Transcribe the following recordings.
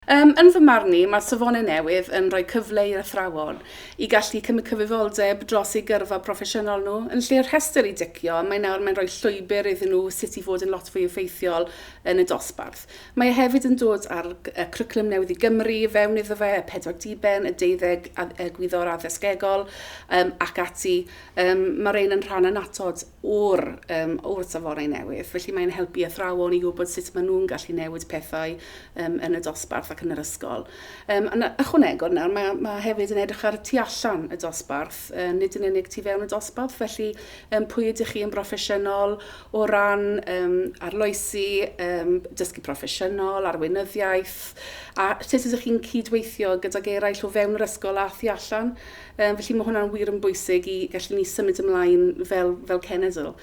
Yym, yn fy marn i, mae safonau newydd yn rhoi cyfle i'r athrawon i gallu cymryd cyfrifoldeb dros eu gyrfa proffesiynol nhw. Yn lle'r rhestr i dicio, mae nawr mae'n rhoi llwybr iddyn nhw sut i fod yn lot fwy effeithiol yn y dosbarth. Mae e hefyd yn dod â'r Cwricwlwm Newydd i Gymru i fewn iddo fe, y pedwar diben, y deuddeg Gwyddor Addysgegol um, ac ati. Um, mae rhain yn rhan annatod o'r, um, o'r safonau newydd, felly mae'n helpu athrawon i wybod sut maen nhw'n gallu newid pethau um, yn y dosbarth ac yn yr ysgol. Um, yn ychwanegol nawr, mae, mae hefyd yn edrych ar y tu allan y dosbarth, uh, nid yn unig tu fewn y dosbarth, felly um, pwy ydych chi yn broffesiynol, o ran um, arloesi, um, dysgu proffesiynol, arweinyddiaeth, a sut ydych chi'n cydweithio gydag eraill o fewn yr ysgol a thu allan. Um, felly mae hwnna'n wir yn bwysig i gallu ni symud ymlaen fel, fel cenedl.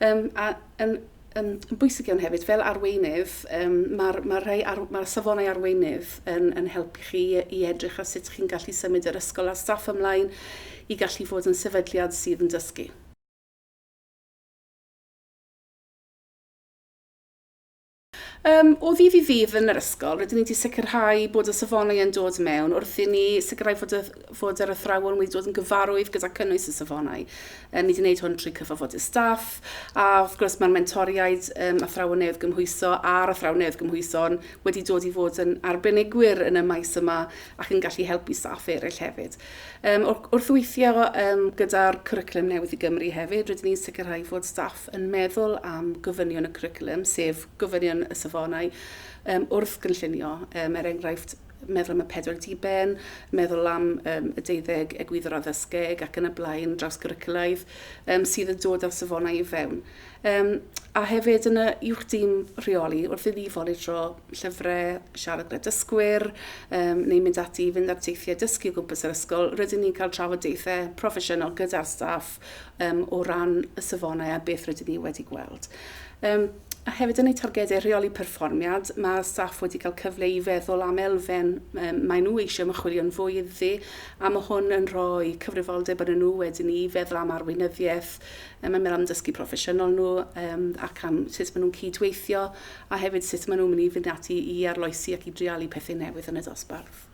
Um, a yn, um, yn bwysig iawn hefyd, fel arweinydd, um, mae'r ma ar, ma safonau arweinydd yn, yn helpu chi i edrych ar sut chi'n gallu symud yr ysgol a staff ymlaen i gallu fod yn sefydliad sydd yn dysgu. Yym, o ddydd i ddydd yn yr ysgol, rydyn ni wedi sicrhau bod y safonau yn dod mewn wrth i ni sicrhau fod, y, fod yr athrawon wedi dod yn gyfarwydd gyda cynnwys y safonau. Um, ni wedi gwneud hwn trwy cyfarfodydd staff, a wrth gwrs mae'r mentoriaid um, athrawon newydd gymhwyso a'r athrawon newydd gymhwyso'n wedi dod i fod yn arbenigwyr yn y maes yma ac yn gallu helpu staff eraill hefyd. Yym, wr- wrth weithio yym, gyda'r Cwricwlwm Newydd i Gymru hefyd, rydyn ni'n sicrhau fod staff yn meddwl am gofynion y cwricwlwm, sef gofynion y safonau, um, wrth gynllunio. Um, er enghraifft, meddwl am y pedwar diben, meddwl am um, y deuddeg egwyddor addysgeg ac yn y blaen, draws gyricwlaidd, um, sydd yn dod â'r safonau i fewn. Um, a hefyd yn y uwch dîm rheoli wrth iddi foli dro llyfrau, siarad gyda dysgwyr, um, neu mynd ati i fynd ar teithiau dysgu o gwmpas yr ysgol, rydyn ni'n cael trafodaethau proffesiynol gyda'r staff um, o ran y safonau a beth rydyn ni wedi gweld. Um, A hefyd yn eu targedau rheoli perfformiad, mae staff wedi cael cyfle i feddwl am elfen um, mae nhw eisiau mychwilio'n fwy iddi, a mae hwn yn rhoi cyfrifoldeb yn nhw wedyn i feddwl am arweinyddiaeth Mae yn mynd am dysgu proffesiynol nhw yym ac am sut maen nhw'n cyd-weithio a hefyd sut maen nhw'n mynd i fynd ati i arloesi ac i dreialu pethau newydd yn y dosbarth.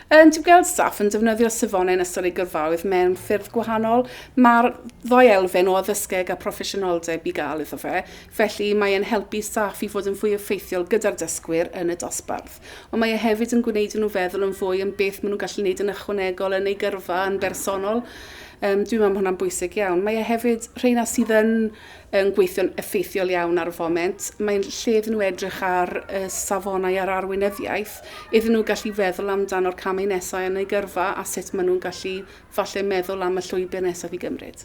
Yn dwi'n gweld staff yn defnyddio safonau yn ystod ei gyrfaoedd mewn ffyrdd gwahanol. Mae'r ddau elfen o addysgeg a proffesiynoldeb i gael iddo fe, felly mae'n helpu staff i fod yn fwy effeithiol gyda'r dysgwyr yn y dosbarth. ond mae e hefyd yn gwneud i nhw feddwl yn fwy am beth maen nhw'n gallu gwneud yn ychwanegol yn eu gyrfa yn bersonol. Um, dwi'n meddwl mae hwnna'n bwysig iawn. Mae e hefyd, rheina sydd yn, yn gweithio'n effeithiol iawn ar y foment, mae'n lle iddyn nhw edrych ar y safonau a'r arweinyddiaeth, iddyn nhw gallu feddwl amdano'r camau nesau yn eu gyrfa a sut maen nhw'n gallu falle meddwl am y llwybr nesaf i gymryd.